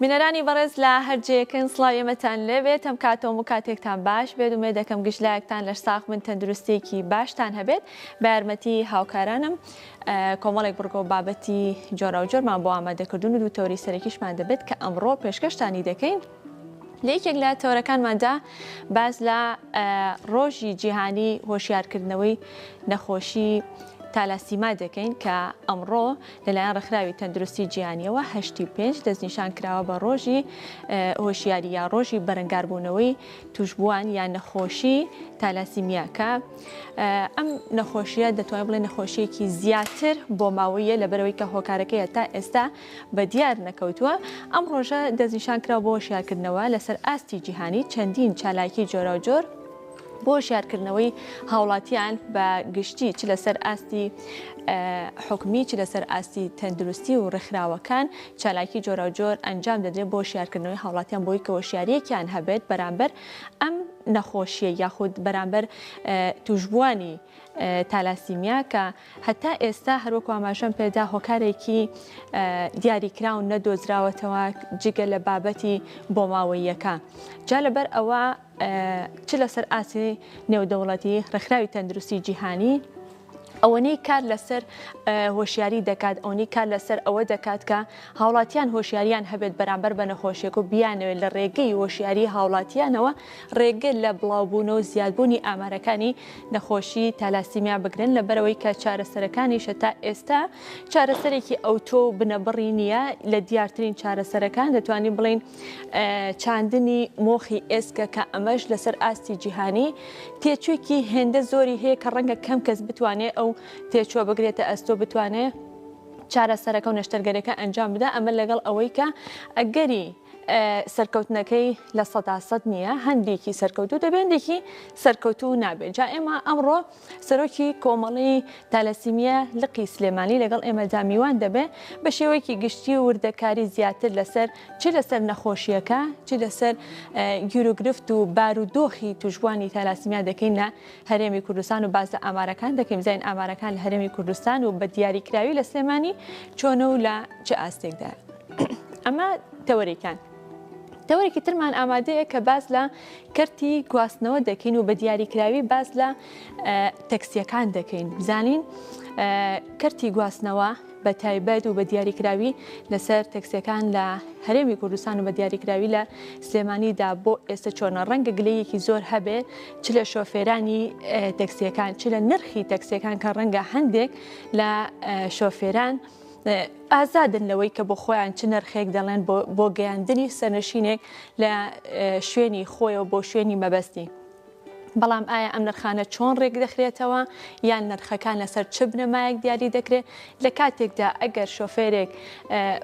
بینەرانی بەڕێز لە هەر جێیەکن سڵاوی ئێمەتان لێبێت هەم کات و هەموو کاتێکتان باش بێت ومێ دەکەم گشت لایەکتان لەش ساخ بن تەندروستیەکی باشتان هەبێت بە یارمەتی هاوکارانم کۆمەڵێک بڕگۆ بابەتی جۆرا و جۆرمان بۆ ئامادەکردون و دوو تەوری سەرەکیشمان دەبێت کە ئەمڕۆ پێشکەشتانی دەکەین لە یەکێک لە تەورەکانماندا باز لە ڕۆژی جیهانی هۆشیارکردنەوەی نەخۆشی تالاسیما دەکەین کە ئەمڕۆ لەلایەن ڕێکخراوی تەندروستی جیهانییەوە هەشتی و پێنج دەستنیشان کراوە بە ڕۆژی هۆشیاری یا ڕۆژی بەرەنگاربوونەوەی توشبووان یا نەخۆشی تالاسیمیا کە ئەم نەخۆشیە دەتوانین بڵێ نەخۆشیەکی زیاتر بۆ ماوەیە لە بەرەوەی کە هۆکارەکەی تا ئێستا بە دیار نەکەوتووە ئەم ڕۆژە دەستنیشان کرا بۆ شیارکردنەوە لەسەر ئاستی جیهانی چەندین چالاکی جۆراوجۆر بۆ هۆشیارکردنەوەی هاوڵاتیان بە گشتی چ لەسەر ئاستی حکومی چ لەسەر ئاستی تەندروستی و ڕێکخراوەکان چالاکی جۆراوجۆر ئەنجام دەدرێت بۆ شارکردنەوەی هاوڵاتیان بۆی کە هۆشیارەکیان هەبێت بەرامبەر ئەم نەخۆشیە یاخود بەرامبەر توشبوانی تالاسیمیا کە هەتا ئێستا هەروەکو ئاماژەم پێدا هۆکارێکی دیاریکراون نەدۆزراوەتەوە جگە لە بابەتی بۆماوەیەکە جا لەبەر ئەوە چ لەسەر ئاستی نێودەوڵەتی، ڕێکخراوی تەندروستی جیهانی، ئەوەنەی کار لەسەر هۆشیاری دەکات ئەوەنەی کار لەسەر ئەوە دەکات کە هاوڵاتیان هۆشیاریان هەبێت بەرامبەر بە نەخۆشیێک و بیانەوێت لە ڕێگەی هۆشیاری هاوڵاتیانەوە ڕێگە لە بڵاوبوون و زیادبوونی ئامارەکانی نەخۆشی تالاسیمیا بگرن لە بەرەوەی کە چارەسەرەکانیشە تا ئێستا چارەسەرێکی ئەوتۆ و بنەبڕی نییە لە دیارترین چارەسەرەکان دەتوانین بڵین چاندنی مۆخی ئێسکە کە ئەمەش لەسەر ئاستی جیهانی تێچوویکی هێندە زۆری هەیە کە ڕەنگە کەم کەس بتوانێت ئەو تێچووە بگرێتە ئەستۆ بتوانێت چارەسەرەکە و نەشتەرگەرەکە ئەنجام بدا ئەمە لەگەڵ ئەوەی کە ئەگەری سەرکەوتنەکەی لە سەدا سەد نییە هەندێکی سەرکەوتو دەبێندێکی سەرکەوتو نابێت جا ئێمە ئەمڕۆ سەرۆکی کۆمەڵەی تالەسیمیە لقی سلێمانی لەگەڵ ئێمەدا میوان دەبێ، بە شێوەیەکی گشتی و وردەکاری زیاتر لەسەر چ لەسەر نەخۆشییەکە چ لەسەر گیروگرفت و بارودۆخی توشبوانی تالاسیمیا دەکەینە هەرێمی کوردستان و باس لە ئامارەکان دەکەین بزانین ئامارەکان لە هەرێمی کوردستان و بە دیاریکراوی لە سلێمانی چۆنە و لە چ ئاستێکدا ئەمە تەوەرێکان تەوەرێکی ترمان ئامادەیە کە باس لە کەرتی گواستنەوە دەکەین و بە دیاریکراوی باس لە تەکسیەکان دەکەین بزانین کەرتی گواستنەوە بە تایبەت و بە دیاریکراوی لەسەر تەکسیەکان لە هەرێمی کوردستان و بە دیاریکراوی لە سلێمانیدا بۆ ئێستا چۆنە ڕەنگە گلەیەکی زۆر هەبێ چ لە شۆفێرانی تەکسیەکان چ لە نرخی تەکسیەکان کە ڕەنگە هەندێک لە شۆفێران ئازادن لەوەی کە بۆ خۆیان چ نرخێک دەڵێن بۆ گەیاندنی سەرنشینێک لە شوێنی خۆیەوە بۆ شوێنی مەبەستی. بەڵام ئایا ئەم نرخانە چۆن ڕێک دەخرێتەوە یان نرخەکان لەسەر چ بنەمایەک دیاری دەکرێت لە کاتێکدا ئەگەر شۆفێرێک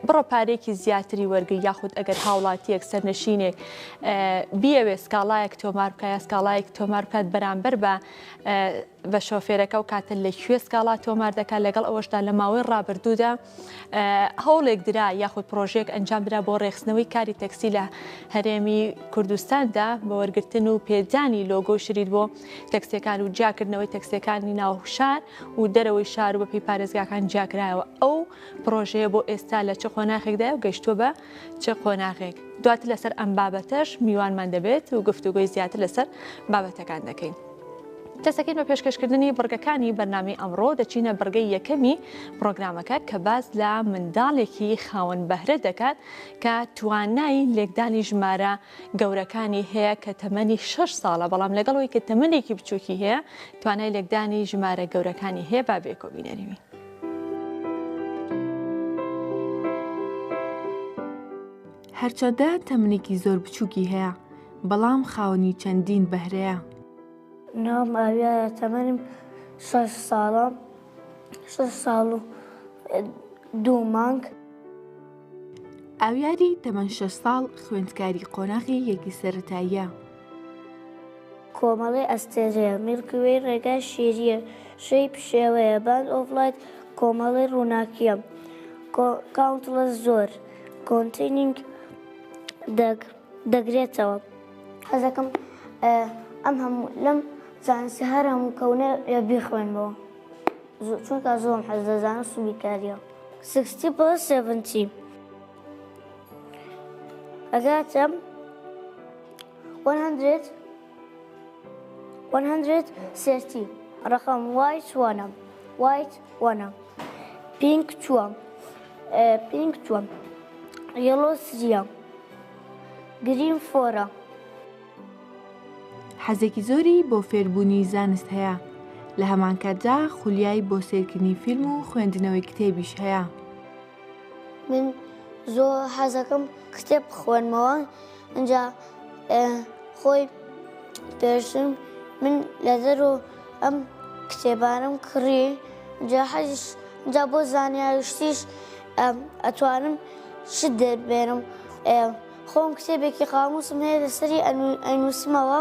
بڕە پارێکی زیاتری وەرگری یاخود ئەگەر هاوڵاتیەک سەرنشینێک بیاوێ سکاڵایەک تۆمار بکە یا سکاڵایەک تۆمار بکات بەرامبەر بە بە شۆفێرەکە و کاتە لە کوێ سکاڵا تۆمار دەکات لەگەڵ ئەوەشدا لە ماوەی ڕابردوودا هەوڵێک درا یاخود پرۆژێک ئەنجام درا بۆ ڕێخستنەوەی کاری تەکسی لە هەرێمی کوردستاندا بە وەرگتن و پێدانی لۆگۆ شرید بۆ تەکسیەکان و جیاکردنەوەی تەکسیەکانی ناوشار و دەرەوەی شار و بەپی پارێزگاکان جیاکرایەوە ئەو پرۆژەیە بۆ ئێستا لە چ قۆناخێکدای و گەشتووە بە چ قۆناغێک دواتر لەسەر ئەم بابەتەش میوانمان دەبێت و گفتوگۆی زیاتر لەسەر بابەتەکان دەکەین. دەسەکەین بە پێشکەشکردنی بڕگەکانی بەرنامی ئەمڕۆ دەچینە بڕگەی یەکەمی پرۆگرامەکە کە باز لە منداڵێکی خاوەن بەهرە دەکات کە توانای لێکدانی ژمارە گەورەکانی هەیە کە تەمەنی 6 ساڵە بەڵام لەگەڵەوەی کە تەمەنێکی بچووکی هەیە توانای لێکدانی ژمارە گەورەکانی هەیە با بێکۆبینەریوی. هەرچەندە تەمنێکی زۆر بچووکی هەیە بەڵام خاوەنی چەندین بەهرەیە ناو ماویە تەمەنم شش ساڵە شش ساڵ و دوو مانگ ئاویاری تەمەن شش ساڵ خوێندکاری قۆناغی یەکی سەتاییە کۆمەڵەی ئەستێرەیە، میڵکیوەی ڕێگای شێرییە، شەی پشێوەیە، باند ئۆف لایت کۆمەڵەی ڕووناکییە، کاونتڵەس زۆر، کۆنتەینینگ دەگ، دەگرێتەوە. حەزەکەم ئەم هەموو لەم زانستە هەر هەموو کەونەیە بیخوێنمەوە چونکا زۆم حەز لە زانست و بیرکارییە. سکستی پلەس سێڤنتی. ئەگاتم 100 100 سرتی ڕقم وایت وانم وایت وانم پینک چووەم پینک چووەم یڵۆ سریام گریم فۆرە حەزێکی زۆری بۆ فێربوونی زانست هەیە لە هەمانکاتدا خولیای بۆ سێرکردنی فیلم و خوێندنەوەی کتێبیش هەیە. من زۆر حەزەکەم کتێب بخوێنمەوە ئەجا خۆی پێشم من لە دەرۆ ئەم کتێبانم کڕی جا حەزش جا بۆ زانیاریشتیش ئەتوانم چ دەربێنم خۆم کتێبێکی قاموسم هەیە لەسەری ئەنووسمەوە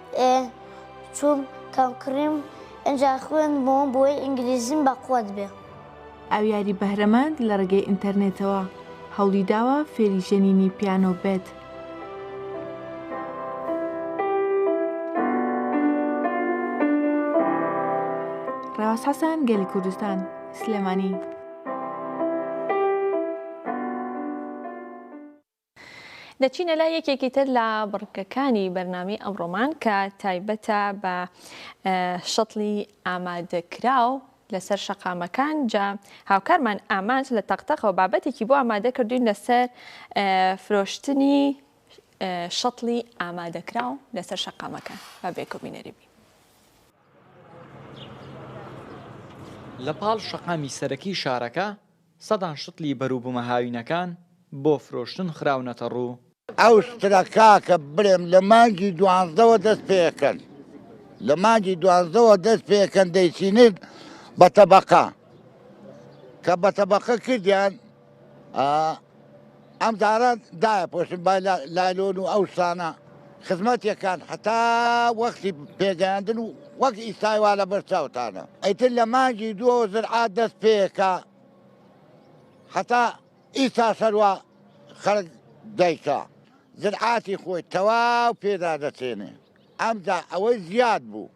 ئێ چوم کەم کڕیم ئەجا خوێن بۆم بۆی ئینگلیزیم بە قوەت بێ. ئەو یاری بەهرەمەند لە ڕێگەی ئینتەرنێتەوە هەوڵی داوە فێری ژەنینی پیانۆ بێت. ڕێواز حەسەن گەلی کوردستان، سلێمانی. دەچینە لای یەکێکی تر لە بڕگەکانی بەرنامەی ئەمڕۆمان کە تایبەتە بە شەتڵی ئامادەکراو لەسەر شەقامەکان جا هاوکارمان ئامانج لە تەقتەقەوە بابەتێکی بۆ ئامادە کردوین لەسەر فرۆشتنی شەتڵی ئامادەکراو لەسەر شەقامەکان بە بێکۆبینەری بین. لە پاڵ شەقامی سەرەکی شارەکە سەدان شتڵی بەروبومە هاوینەکان بۆ فرۆشتن خراونەتە ڕوو. ئەو شترە کاکە برێم لە مانگی دوانزەوە دەست پێکەن لە مانگی دوانزەوە دەست پێکەن دەیچینن بە تەبەقە کە بە تەبەقە کردیان ئا. ئەم جارە دایە پۆشم بای لایلۆن و ئەو شتانە خزمەتێکان حتا وەختی پێگەیاندن و وەک ئیستای وا لە بەر چاوتانە ئەیتر لە مانگی دووە زرعات دەست پێکە حتا ئیستا سەروا خەرک دایکە زرعاتی خۆی تەواو پێدا دەچێنێ ئەمجا ئەوەی زیاد بوو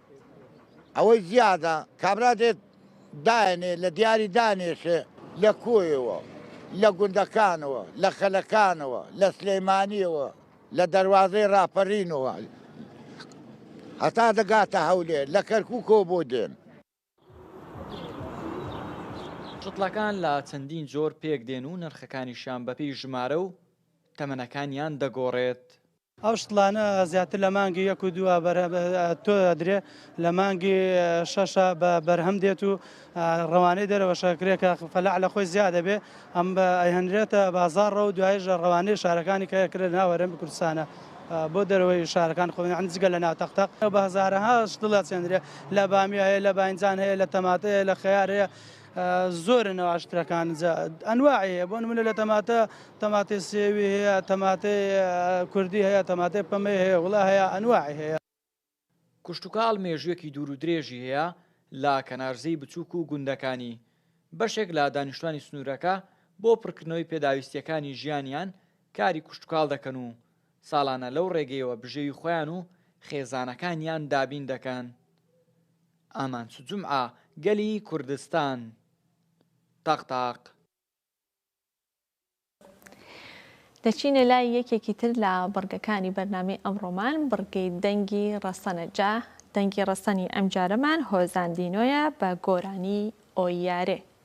ئەوەی زیادە کابرا دێت دایەنێ لە دیاری دانێشێ لە کۆیەوە لە گوندەکانەوە لە خەلەکانەوە لە سلێمانیەوە لە دەروازەی ڕاپەرینەوە هەتا دەگاتە هەولێر لە کەرکوکەوە بۆ دێن. چتڵەکان لە چەندین جۆر پێک دێن و نرخەکانیشیان بەپێی ژمارە و تەمەنەکانیان دەگۆڕێت. ئەو شتلانە زیاتر لە مانگی یەک و دووە تۆ ئەدرێ لە مانگی شەشە بە بەرهەم دێت و ڕەوانەی دەرەوەشە کرێکە فەلاح لە خۆی زیاد دەبێ ئەم بە ئەهێنرێتە بازاڕە و دوایژە ڕەوانەی شارەکانی کە کرێت ناوەرم کوردستانە بۆ دەرەوەی شارەکان خۆیان جگە لە ناتەختەق بە هەزارەها شتڵە چێندرێ لە بامیایە لە باینجان هەیە لە تەماتەیە لە خەیارەیە زۆرن ئەو عەشترەکان جا ئەنواعی هەیە بۆ نمونە لە تەماتە تەماتەی سێوی هەیە تەماتەی کوردی هەیە تەماتەی پەمەی هەیە وڵا هەیە ئەنواعی هەیە. کشتوکاڵ مێژوویەکی دوور و درێژی هەیە لە کەنارزێی بچووک و گوندەکانی، بەشێک لە دانیشتوانی سنوورەکە بۆ پڕکردنەوەی پێداویستییەکانی ژیانیان کاری کشتوکاڵ دەکەن و ساڵانە لەو ڕێگەیەوە بژێوی خۆیان و خێزانەکانیان دابین دەکەن. ئامانج جومعە، گەلی کوردستان. تاق تاق. دەچینە لای یەکێکی تر لە بڕگەکانی بەرنامەی ئەمڕۆمان، بڕگەی دەنگی ڕەسەنە، جا دەنگی ڕەسەنی ئەمجارەمان هۆزان دینۆیە بە گۆرانیی ئۆییارێ.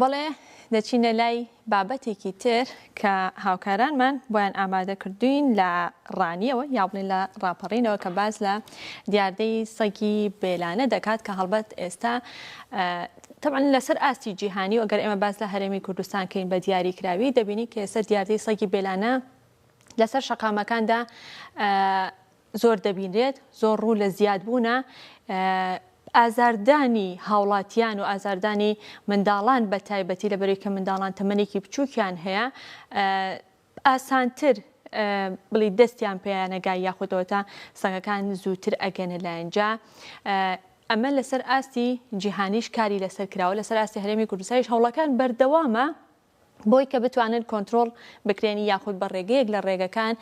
بەڵێ دەچینە لای بابەتێکی تر کە هاوکارانمان بۆیان ئامادە کردوین لە ڕانیەوە یا بڵێن لە ڕاپەڕینەوە کە باز لە دیاردەی سەگی بێلانە دەکات کە هەڵبەت ئێستا طبعا لەسەر ئاستی جیهانی و ئەگەر ئێمە باز لە هەرێمی کوردستان کەین بە دیاری کراوی دەبینی کە ئێستا دیاردەی سەگی بێلانە لەسەر شەقامەکاندا زۆر دەبینرێت، زۆر ڕوو لە زیادبوونە ئازاردانی هاوڵاتیان و ئازاردانی منداڵان بە تایبەتی لە بەرەی کە منداڵان تەمەنێکی بچووکیان هەیە ئاسانتر بڵی دەستیان پێیانەگای یاخودەوەتا سەگەکان زووتر ئەگەنە لایەنجا ئەمە لەسەر ئاستی جیهانیش کاری لەسەر کراوە لەسەر ئاستی هەرێمی کوردستایش هەوڵەکان بەردەوامە بۆی کە بتوانن کۆنترۆڵ بکرێن یاخود بە ڕێگەیەک لە ڕێگەکان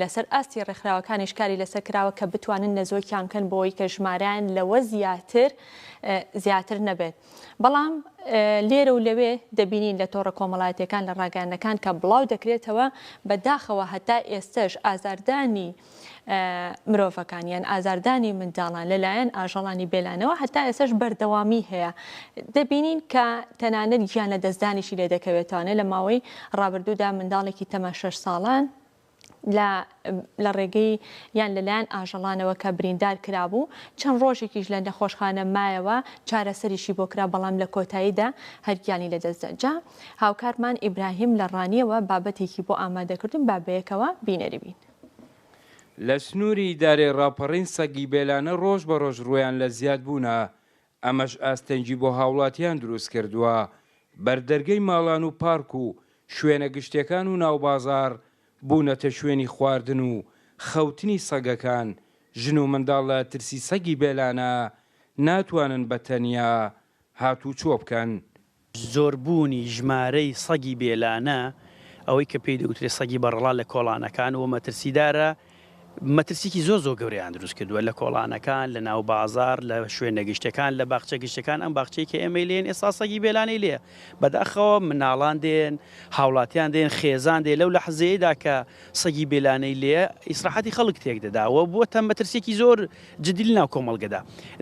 لەسەر ئاستی ڕێکخراوەکانیش کاری لەسەر کراوە کە بتوانن نەزۆکیان بکەن بۆی کە ژمارەیان لەوە زیاتر زیاتر نەبێت بەڵام لێرە و لەوێ دەبینین لە تۆڕە کۆمەڵایەتەکان لە ڕاگەیانەکان کە بڵاو دەکرێتەوە بەداخەوە هەتا ئێستش ئازاردانی مرۆڤەکان یان ئازاردانی منداڵان لەلایەن ئاژەڵانی بێلانەوە هەتا ئێسەش بەردەوامی هەیە دەبینین کە تەنانەت گیان لە دەستدانیشی لێ دەکەوێتوانێت لە ماوەی ڕابردوودا منداڵێکی تەمە شەش ساڵان لە ڕێگەی یان لەلایەن ئاژەڵانەوە کە بریندار کرابوو چەند ڕۆژێکیش لە نەخۆشخانە مایەوە چارەسەریشی بۆ کرا بەڵام لە کۆتاییدا هەرگیانی لە دەستدەجا هاوکارمان ئیبراهیم لە ڕانیەوە بابەتێکی بۆ ئامادەکردن بابەیەکەوە بینەری بین. لە سنووری ئیدارەی ڕاپەڕین سەگی بێلانە ڕۆژ بە ڕۆژ ڕوویان لە زیاد بوونە، ئەمەش ئاستەنگی بۆ هاوڵاتیان دروست کردووە، بەردەرگەی ماڵان و پارک و شوێنە گشتیەکان و ناو بازاڕ بوونەتە شوێنی خواردن و خەوتنی سەگەکان، ژن و منداڵ لە ترسی سەگی بێلانە ناتوانن بە تەنیا هاتوچۆ بکەن، زۆربوونی ژمارەی سەگی بێلانە، ئەوەی کە پێی دەوترێت سەگی بەڕەڵا لە کۆڵانەکان و مەترسیدارە، مەترسیکی زۆر زۆر گەورەیان دروست کردووە لە کۆڵانەکان، لە ناو بازاڕ، لە شوێنە گشتەکان، لە باخچە گشتەکان، ئەم باخچەی کە ئێمەی لێین ئێستا سەگی بێلانەی لێیە، بەداخەوە مناڵان دێن، هاوڵاتیان دێن، خێزان دێن، لەو لەحزەیەیدا کە سەگی بێلانەی لێیە ئیسراحەتی خەڵک تێک دەدا و بووەتە مەترسیکی زۆر جدی لەناو کۆمەڵگەدا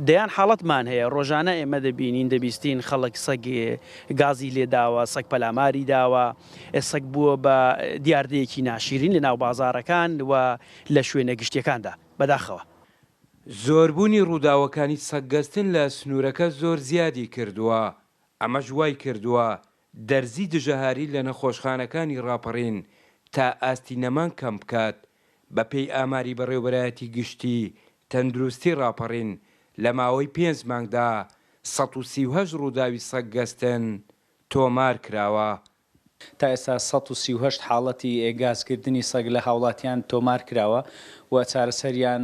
دەیان حاڵەتمان هەیە ڕۆژانە ئێمە دەبینین دەبیستین خەڵک سەگ گازی لێداوە سەگ پەلاماری داوە سەگ بووە بە دیاردەیەکی ناشیرین لەناو بازاڕەکان و لە شوێنە گشتیەکاندا بەداخەوە. زۆربوونی ڕووداوەکانی سەگ گەستن لە سنوورەکە زۆر زیادی کردووە ئەمەش وای کردووە دەرزی دژەهاری لە نەخۆشخانەکانی ڕاپەڕین تا ئاستی نەمان کەم بکات، بەپێی ئاماری بەڕێوبەرایەتی گشتی تەندروستی ڕاپەڕین لە ماوەی پێنج مانگدا سەد و سی و هەشت ڕووداوی سەگ گەستن تۆمار کراوە. تا ئێستا سەد و سی و هەشت حاڵەتی گازکردنی سەگ لە هاوڵاتیان تۆمار کراوە و چارەسەریان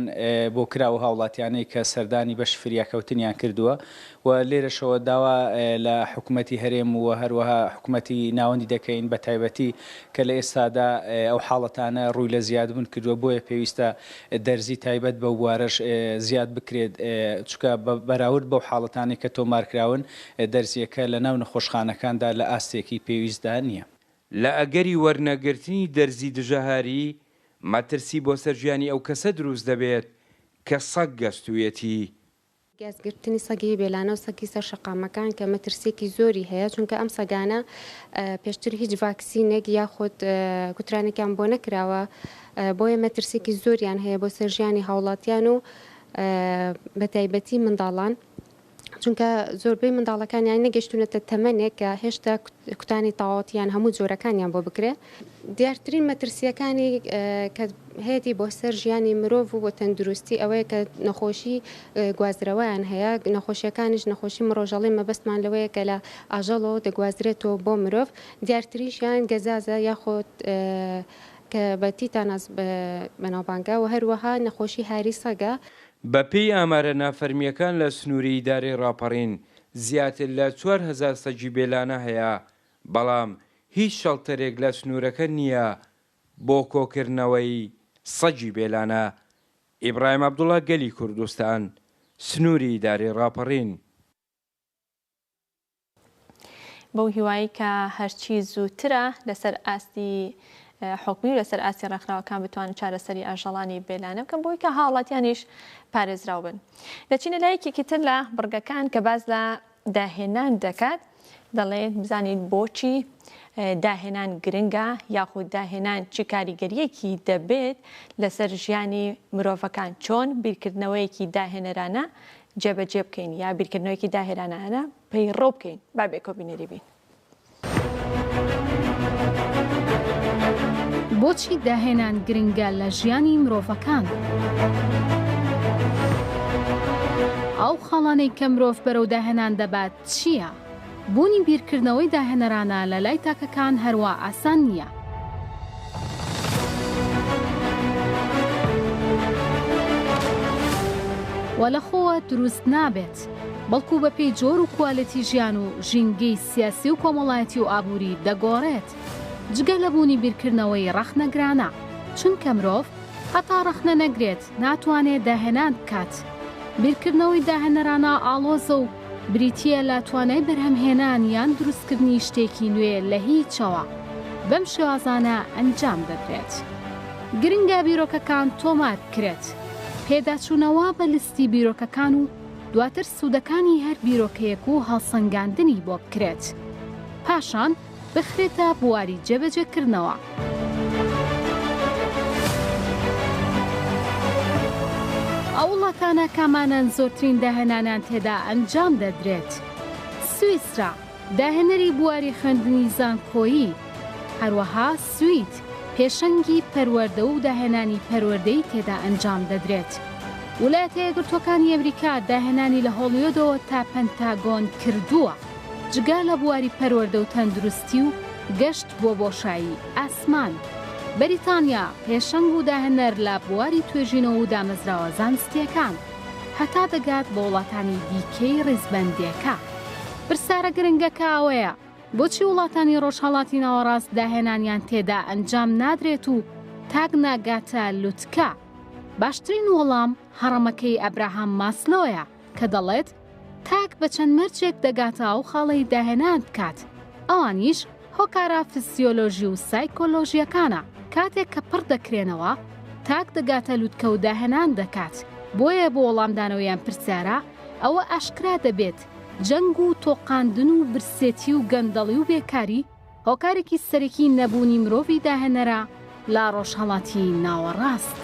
بۆ کراوە، هاوڵاتیانەی کە سەردانی بەشی فریاکەوتنیان کردووە و لێرەشەوە داوا لە حکومەتی هەرێم و هەروەها حکومەتی ناوەندی دەکەین بە تایبەتی کە لە ئێستادا ئەو حاڵەتانە ڕووی لە زیادبوون کردووە بۆیە پێویستە دەرزی تایبەت بەو بوارەش زیاد بکرێت چونکە بە بەراورد بەو حاڵەتانەی کە تۆمارکراون دەرزییەکە لە ناو نەخۆشخانەکاندا لە ئاستێکی پێویستدا نییە. لە ئەگەری وەرنەگرتنی دەرزی دژەهاری، مەترسی بۆ سەر ژیانی ئەو کەسە دروست دەبێت کە سەگ گەستوویەتی. گازگرتنی سەگی بێلانە و سەگی سەر شەقامەکان کە مەترسییەکی زۆری هەیە، چونکە ئەم سەگانە پێشتر هیچ ڤاکسینێک یاخود کوترانێکیان بۆ نەکراوە، بۆیە مەترسییەکی زۆریان هەیە بۆ سەر ژیانی هاوڵاتیان و بەتایبەتی منداڵان، چونکە زۆربەی منداڵەکانیان نەگەشتوونەتە تەمەنێک کە هێشتا کوتانی تاوەتییان هەموو جۆرەکانیان بۆ بکرێ. دیارترین مەترسییەکانی کە هەیەتی بۆ سەر ژیانی مرۆڤ و بۆ تەندروستی ئەوەیە کە نەخۆشی گوازرەوەیان هەیە نەخۆشیەکانیش نەخۆشی مڕۆژەڵی مەبەستمان لەوەیە کە لە ئاژەڵەوە دەگوازرێتەوە بۆ مرۆڤ دیارتریشیان گەزازە یاخۆت کە بە تیتاناس بەناوبانگە و هەروەها نەخۆشی هاری سەگە. بەپێی ئامارە نافەرمییەکان لە سنووری ئیدارەی ڕاپەڕین زیاتر لە چوار هەزار سەگی بێلانە هەیە بەڵام هیچ شەڵتەرێک لە سنوورەکە نییە بۆ کۆکردنەوەی سەگی بێلانە. ئیبراهیم عەبدوڵا گەلی کوردستان، سنووری ئیدارەی ڕاپەڕین. بەو هیوایەی کە هەرچی زووترە لەسەر ئاستی حکومی و لەسەر ئاستی ڕێکخراوەکان بتوانن چارەسەری ئاژەڵانی بێلانە بکەن بۆی کە هاوڵاتیانیش پارێزراو بن دەچینە لایەکێکی تر لە بڕگەکان کە باس لە داهێنان دەکات، دەڵێت بزانیت بۆچی داهێنان گرنگە یاخود داهێنان چ کاریگەرییەکی دەبێت لەسەر ژیانی مرۆڤەکان، چۆن بیرکردنەوەیەکی داهێنەرانە جێبەجێ بکەین یا بیرکردنەوەیەکی داهێرانانە پەیڕەو بکەین، با بێکۆبینەری بین. بۆچی داهێنان گرنگە لە ژیانی مرۆڤەکان؟ ئەو خاڵانەی کە مرۆڤ بەرەو داهێنان دەبات چییە؟ بوونی بیرکردنەوەی داهێنەرانە لە لای تاکەکان هەروا ئاسان نییە. و لە خۆوە دروست نابێت. نەبێت، بەڵکو بەپێی جۆر و کوالێتی ژیان و ژینگەی سیاسی و کۆمەڵایەتی و ئابووری دەگۆڕێت، جگە لە بوونی بیرکردنەوەی ڕەخنەگرانە، چونکە مرۆڤ هەتا ڕەخنە نەگرێت ناتوانێت داهێنان بکات، بیرکردنەوەی داهێنەرانە ئاڵۆزە و بریتییە لە توانای بەرهەمهێنان یان دروستکردنی شتێکی نوێ لە هیچەوە، بەم شێوازانە ئەنجام دەدرێت. گرنگە بیرۆکەکان تۆمار بکرێت. پێداچوونەوە بە لیستی بیرۆکەکان و دواتر سوودەکانی هەر بیرۆکەیەک و هەڵسەنگاندنی بۆ بکرێت. پاشان بخرێتە بواری جێبەجێکردنەوە. ئەو وڵاتانە کامانەن زۆرترین داهێنانیان تێدا ئەنجام دەدرێت، سویسرا، داهێنەری بواری خوێندنی زانکۆیی، هەروەها سوید پێشەنگی پەروەردە و داهێنانی پەروەردەی تێدا ئەنجام دەدرێت. ولایەتە یەکگرتووەکانی ئەمریکا داهێنانی لە هۆڵیۆدەوە تا پەنتاگۆن کردووە، جگا لە بواری پەروەردە و تەندروستی و گەشت بۆ بۆشایی ئاسمان. بەریتانیا پێشەنگ و داهێنەر لە بواری توێژینەوە و دامەزراوە زانستییەکان، هەتا دەگات بە وڵاتانی دیکەی ڕیزبەندێکە. پرسیارە گرنگەکە ئەوەیە، بۆچی وڵاتانی ڕۆژهەڵاتی ناوەڕاست داهێنانیان تێدا ئەنجام نادرێت و تاک ناگاتە لوتکە؟ باشترین وەڵام هەڕەمەکەی ئەبراهام ماسلۆیە کە دەڵێت، تاک بە چەند مەرجێک دەگاتە ئەو خاڵەی داهێنان بکات، ئەوانیش، هۆکارە فسیۆلۆژی و سایکۆلۆژییەکانە، کاتێک کە پڕ دەکرێنەوە، تاک دەگاتە لوتکە و داهێنان دەکات، بۆیە بۆ وەڵامدانەوەی ئەم پرسیارە، ئەوە ئاشکرا دەبێت جەنگ و تۆقاندن و برسێتی و گەندەڵی و بێکاری هۆکارێکی سەرەکی نەبوونی مرۆڤی داهێنەرە لە ڕۆژهەڵاتی ناوەڕاست.